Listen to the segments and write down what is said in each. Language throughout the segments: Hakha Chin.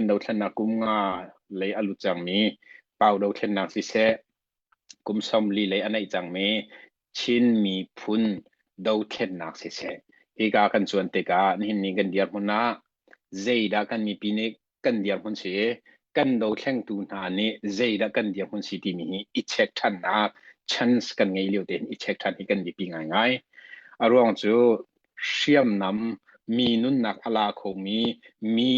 in dothlennak kum nga lei a lut cangmi pau dothlennak siseh kum sawmli lei a neih cangmi Chin miphun dothlennak siseh hika kan cuan tikah nihin ni kan dirhmun ah zeidah kan mipi nih kan dirhmun si kan dothlengtu hna nih zeidah kan dirhmun si timi hi i check ṭhannak chance kan ngei lio tein i check ṭhan hi kan biapi ngaingai a ruang cu Hriamnam, mi nunnak a la khomi, mi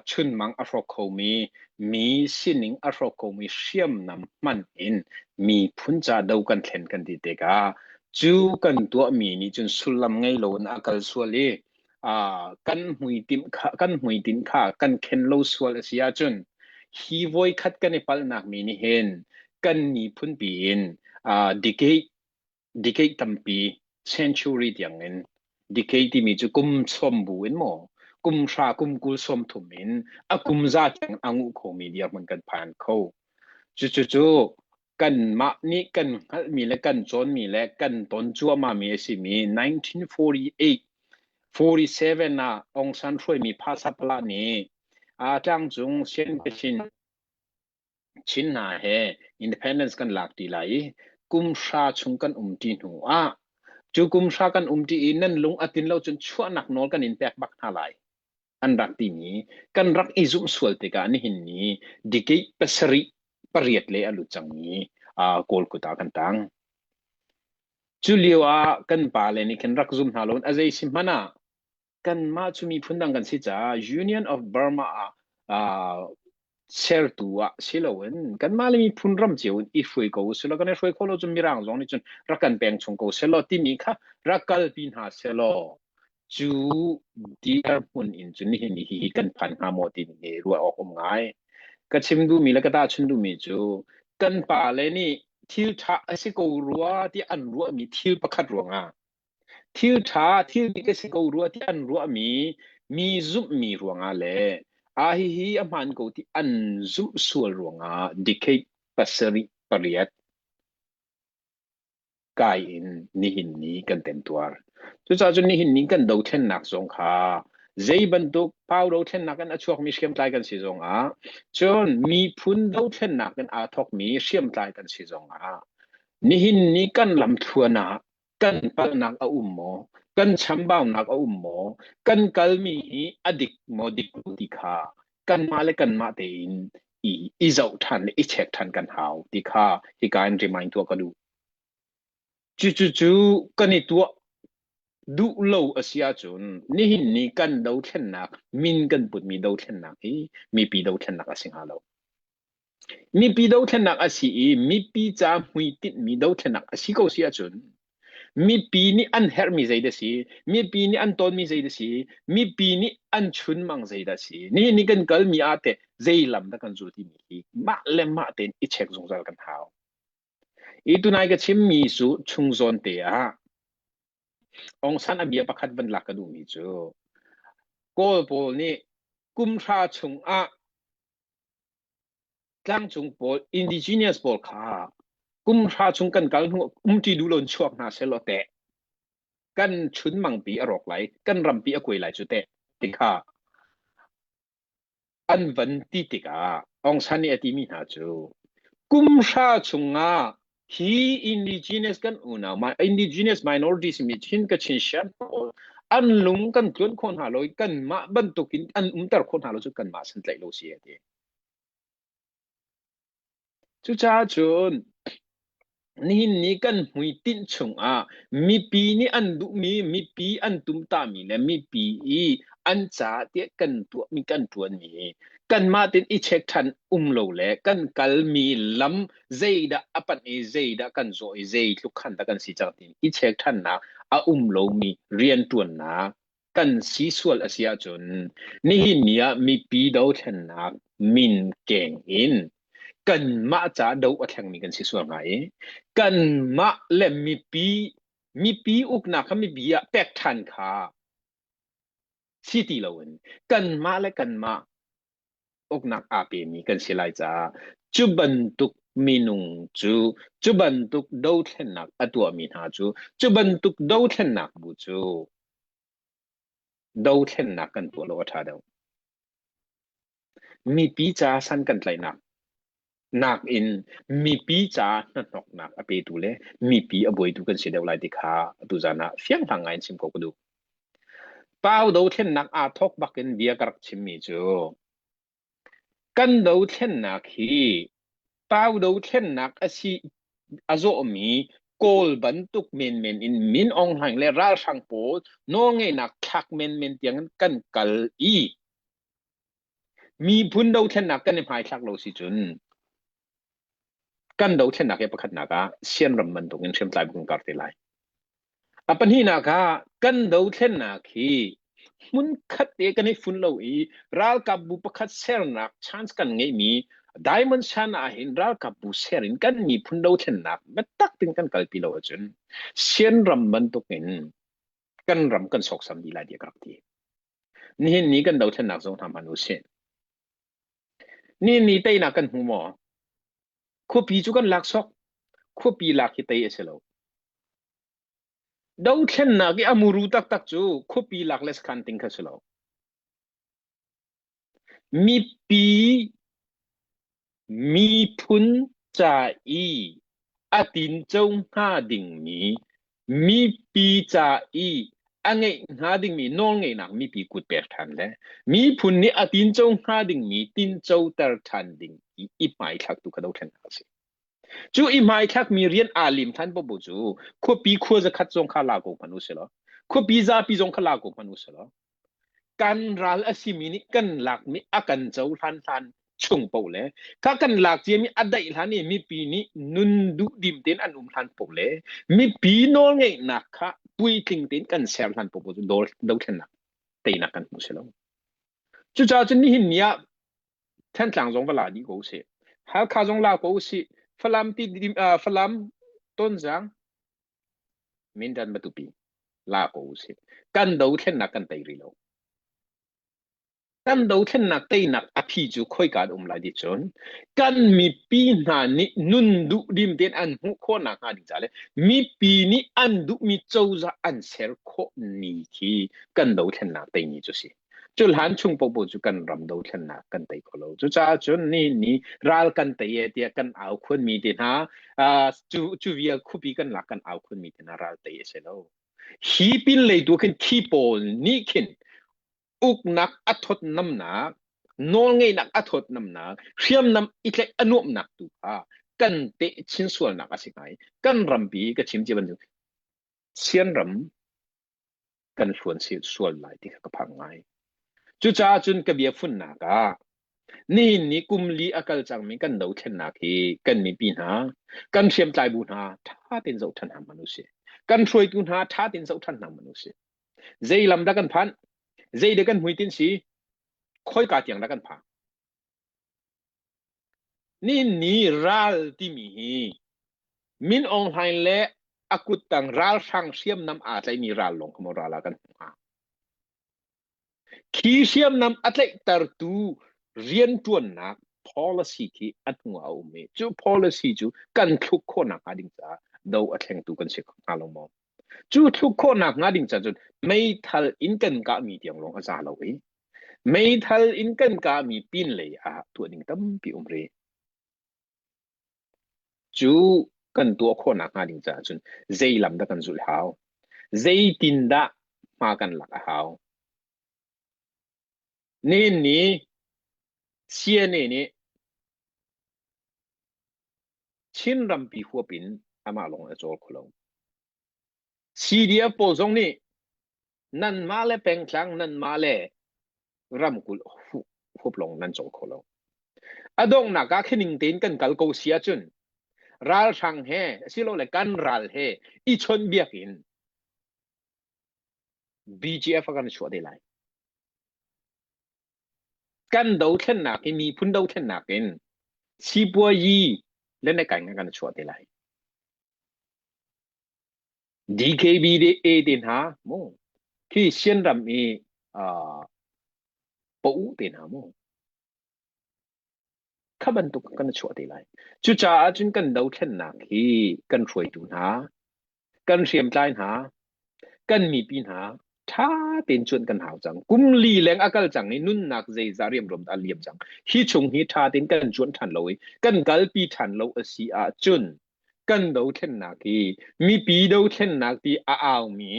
chunmang a hrawk khomi, mi sining a hrawk khomi hriamnam hman in miphun ca do kan thlen kan ti tikah cu kan tuahmi nih cun sullam ngei loin a kal sual i kan hmuitinh kha kan khen lo sual a si ahcun hi voikhat kan i palhnak mi nih hin kan miphunpi in decade Decay tampi century tiangin decay timi cu kum sawm bu in maw kum hra kum kul sawm thum in a kum za tiang a nguh khomi dirhmun kan phan kho. Cucucu kanmah nih kan hngalhmi le kan cawnmi le kan ton cuahmahmi a simi 1948 47 ah Aung San hruaimi phasapala nih a ṭangcung siangpasin Chin hna he independence kan lak ti lai i kumhra chung kan um ṭi hnu ah cu kumhra kan um ṭi i nan lung a tlin lo cun chuahnak nawl kan in pek bak hna lai an rak timi kan rak i zumh sual tikah nihin ni dikih pasarih pariat le a lut cangmi uh, Kawlkut ah kan tang. Cu lio ah kan pale nih kan rak zum hna loin a zei si hmanh ah kanmah cu miphun dang kan si caah Union of Burma ah uh, sertu ah si loin kanmah le miphun ram cio in i hruai ko sila kan i hruai kho lo cun mirang zong nih cun rak kan peng chung ko selo timi kha rak kalpi hna selo cu diar hmun in cun nihin hi kan phan hnga maw timi hi ruah awk um ngai ka chim duhmi le ka tahchun duhmi cu kan pa le nih thil tha a si ko rua ti an ruahmi thil pakhat ruangah Thil ṭha thil dik a si ko rua tiah an ruahmi, mi zumhmi ruangah le a hihi a hmaan ko ti an zumh sual ruangah decade pasarih pariat kai in nihin ni kan temtuar. Cucaah cun nihin ni kan dothlennak zong kha zei bantuk pau dothlennak in a chuakmi hriamtlai kan si zongah cun miphun dothlennak in aa thawkmi hriamtlai kan si zongah nihin ni kan lamthluan ah kan palnak a um maw? Kan chambaunak a um maw? Kan kalmi hi a dik maw dik lo ti kha kanmah le kanmah tein i i zoh ṭhan le i check ṭhan kan hau ti kha hika in remind tuah ka duh. Cucu cu kan i tuah duh lo a si ahcun nihin ni kan dothlennak min kan putmi dothlennak hi mipi dothlennak a si hnga lo. Mipi dothlennak a si i mipi ca hmuitinhmi dothlennak a si ko si ahcun mipi nih an herhmi zei dah si, mipi nih an tawnmi zei dah si, mipi nih an chunmang zei dah si, nihin i kan kalmi ah teh zei lam dah kan zul timi hi mah le mah tein i check zungzal kan hau. Hi tunai ka chimmi cu chung zawn te ah Aung San a bia pakhat van lak ka duhmi cu Kawl pawl nih kumhra chung ah Tlangcung pawl indigenous pawl kha kumhra chung kan kal hnu umṭi duh loin chuak hna sehlaw teh kan chunmangpi a rawk lai, kan rampi a kuai lai cu teh ti kha an van ti tikah Aung San nih a timi hna cu kumhra chungah hi indigenous kan unau my indigenous minorities mi thin ka chin share pawl an lung kan tluan kho hna lo kan mah bantuk in an umter kho hna lo cu kan mah san tlaih lo si ati cu ca cun nihin ni kan hmui tinh chung ah mipi nih an duhmi mipi an tumtahmi le mipi i an ca te kan tuah mi kan tuan mi kan mah tin i check than um lo le kan kal mi lam zeidah a panh i zeidah kan zawh i zei tluk khan dah kan si cang ti i check thannak a um lomi riantuannak kan si sual a si ahcun nihin ni ah mipi dothlennak min keng in kanmah ca do a thlengmi kan si sual hnga i kanmah le mipi mipi uknak kha mipi ah pek than kha si ti loin kanmah le kanmah uknak aa pemi kan si lai caah cu bantuk minung cu cu bantuk dothlennak a tuahmi hna cu cu bantuk dothlennak bu cu dothlennak kan tuah lo a ṭha deuh. Mipi ca san kan tlaihnak nakin mipi caah hnahnawknak a petu le mipi a buaitu kan si deuh lai ti kha atu zan ah fianghlang ngai in chim ko ka duh. Pau dothlennak aa thawk bakin bia ka rak chimmi cu kan dothlennak hi pau dothlennak a si a zawhmi kawl bantuk menmen in min ong hlaing le ralhrang pawl nawlngeihnak thlak menmen tiang kan kal i Miphun dothlennak kan i hmaithlak lo si cun kan dothlennak he pakhatnak ah sianram bantuk in hriamtlai bu kan kar te lai. A pahnihnak ah kan dothlennak hi hmun khat te kan i fun lo i ralkapbu pakhat sernak chance kan ngeihmi Diamond Sun ah hin ralkapbu ser in kan miphun dothlennak biatak tin kan kalpi lo ahcun sianram bantuk in kan ram kan soksam dih lai tiah ka rak ti nihin ni kan dothlennak zong hram han usih nihin ni teinak kan hmu maw khuapi cu kan lak sok khuapi lak hi tei a si lo dothlennak i a muru taktak cu khuapi lak le sakhan ting kha si lo Mipi miphun ca i a tinco hnga dingmi, mipi ca i a ngeih hnga dingmi nawlngeihnak mipi kut pek ṭhan le miphun nih a tinco hnga dingmi tincoter ṭhan ding i i hmaithlak tu kha do ṭhen hna u sih. Cu i hmaithlakmi rian aa lim ṭhan popo cu khuapi khua zakhat zong kha la ko hmanh u sih law, khuapi zapi zong kha la ko hmanh u sih law, kan ral a simi nih kan lakmi a kan cohlan hlan chung poh le kha kan lak ciami a daih hlan i mipi nih nun duh dim tein an um hlan poh le mipi nawl ngeihnak kha puitling tein kan ser hlan poh cu dol dothlennak teinak kan hmu si lo cucaah cun nihin ni ah thentlang zong va la dih ko si halkha zong la ko si falam ti dim uh, falam tonzang Mindan matupi la ko usih. Kan dothlennak kan tei rih lo. Kan dothlennak teinak a phi cu khoika an um lai dih cun kan mipi hna nih nun duh dim tein an hmuh khawh nak hnga ding ca le mipi nih an duhmi cozah an ser khawh ni khi kan dothlennak teini cu si. cu hlan chung popo cu kan ram do thlennak kan tei kho lo cucaah cun ni ni ral kan tei e tiah kan au khun mi te hna cu cu via khupi kan lak kan au khun mi te hna ral tei a si lo hi pin lei tu khin thi pawl nih khin uknak a thot namnak nawl ngeinak a thot namnak hriamnam itlek a nuamnak tu kha kan te chin sualnak a si ngai kan rampi ka chim ci bantuk sian ram kan hluan sual lai ti kha ka phang ngai. Cucaah cun ka biafunnak ah nihin ni kum li a kal cangmi kan dothlennak hi kan mipi hna, kan hriamtlai bu hna ṭha tein zoh ṭhan hram u si. Kan hruaitu hna ṭha tein zoh ṭhan hram u si. Zei lam dah kan phanh? Zei dah kan hmuitin si? Khoi ka tiang dah kan phang? Ninni ral timi hi Min Aung Hlaing le a kuttang ralhrang hriamnam aa tlaihmi ral lawng kha maw ral ah kan hmuh hnga? Khi hriamnam a tlaihtertu rianṭuannak policy khi a hnu ah a um i cu policy cu kan thluk khawh nakhnga ding caah do a thlengtu kan si hnga lo maw? Cu thluk khawhnak hnga ding cah cun meithal in kan kahmi tiang lawng a za lo i meithal in kan kahmi pin lei ah tuah ding tampi um rih. Cu kan tuah khawhnak hnga ding cah cun zei lam dah kan zulh hau? Zeitindah hma kan lak a hau? Nen nih, CNA nih Chin rampi huap in amah lawng a cawl kho lo. CDF pawl zong nih nanmah le pengtlang nanmah le ramkulh huap lawng nan cawl kho lo. A donghnak ah khining tein kan kal ko si ahcun ralhrang he asilole kan ral he i chawnhbiak in BGF a kan chuah te lai. kan dothlennak i miphun dothlennak in sipuayi le ne kai kan chuah te lai. DKB de te hna mu khi sian ram i uh, po te hna mu Kha bantuk kan chuah te lai. Cucaah cun kan dothlennak hi kan hruaitu hna, kan hriamtlai hna, kan mipi hna ṭha tein cuan kan hau cang. Kum li leng a kal cang i nunnak zeizah riamruam dah a liam cang. Hi chung hi ṭha tein kan cuan ṭhan lo i kan kalpi ṭhan lo a si ahcun kan dothlennak hi mipi dothlennak ti a aumi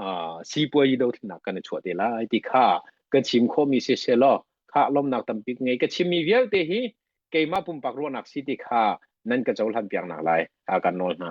uh, sipuai dothlennak kan i chuah te lai ti kha ka chim khomi si se law kha lomnak tambik ngei ka chimmi vialte hi keimah pumpak ruahnak si ti kha nan ka cohlan piak nak lai a kan nawl hna